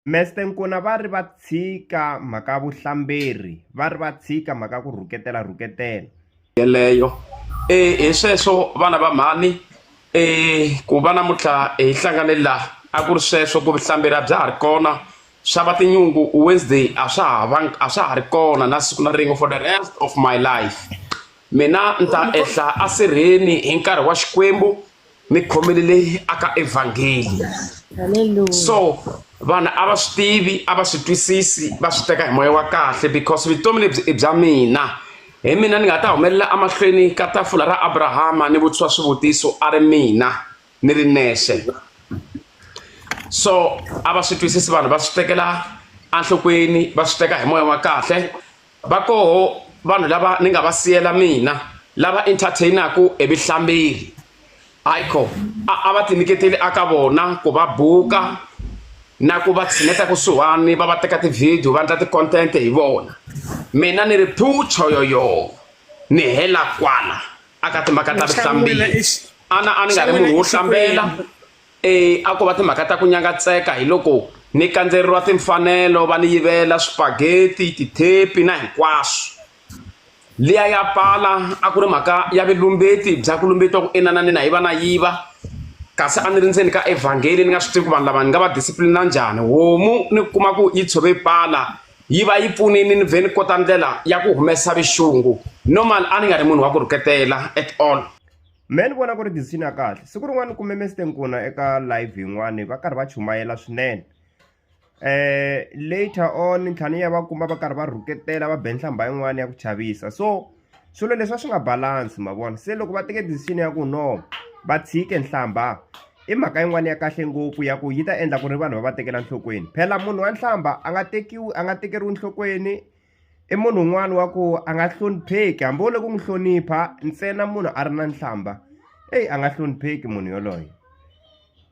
Meste Nkuna va ri va tshika mhaka ya vuhlamberi va ri va tshika mhaka ya ku rhuketela rhuketela yeleyo um hi sweswo vana va mhani um ku va namuntlha hi hlangane laha a ku ri sweswo ku vuhlamberi a bya ha ri kona swa va tinyungu wednesday a swa ha va a swa ha ri kona na siku na rin'we for the rest of my life mina ni ta ehla asirheni hi nkarhi wa xikwembu ni khomile leyi aka evhangeli so vanhu a va swi tivi a va swi twisisi va swi teka hi moya wa kahle because vutomi lebyi i bya mina hi mina ni nga ta humelela emahlweni ka tafula ra abrahama ni vutisiwa swivutiso a ri mina ni ri nexe so a va swi twisisi vanhu va swi tekela enhlokweni va swi teka hi moya wa kahle Va koho vanhu lava ni nga va siyela mina, lava entertain-aku hi vuhlambeli. Haiko, a a va tinyiketeli aka vona ku va buka na ku va tshineta kusuhani, va va teka ti-video, va endla ti-content hi vona. Mina ni ri phu! Choyoyoo! Ni hela kwala aka timhaka ta vuhlambeli. A na a ni nga ri munhu wo hlambela, E, a ko va timhaka ta ku nyangatseka hi loko ni kandzeriwa timfanelo va ni yivela swipageti tithepi na hinkwaswo liya ya pala a ku ri mhaka ya vilumbeti bya ku lumbetiwa ku inana ni na yiva na yiva kasi a ni ri ndzeni ka evhangeli ni nga swi tivi ku vanhu lava ni nga va discipline njhani homu ni kuma ku yi tshove pala yi va yi pfunini ni vhe ni kota ndlela ya ku humesa vixungu normal a ni nga ri munhu wa ku rhuketela at all me ni vona ku ri decision ya kahle siku rin'wana ni kume meste nkuna eka live yin'wani va karhi va chumayela swinene eh later on ntlhani ya va kuma va karhi va rhuketela va be nhlamba yin'wana ya ku chavisa so swilo leswi a swi nga balance ma vona se loko va teke decision ya ku no va tshike nhlamba i mhaka yin'wana ya kahle ngopfu ya ku yi ta endla ku ri vanhu va va tekela nhlokweni phela munhu wa nhlamba a nga tekiwi a nga tekeriwi nhlokweni I munhu un'wana wa ku a nga hlonipheki hambi wo le ku n'wi hlonipha ntsena munhu a ri na nhlamba eyi a nga hlonipheki munhu yoloye.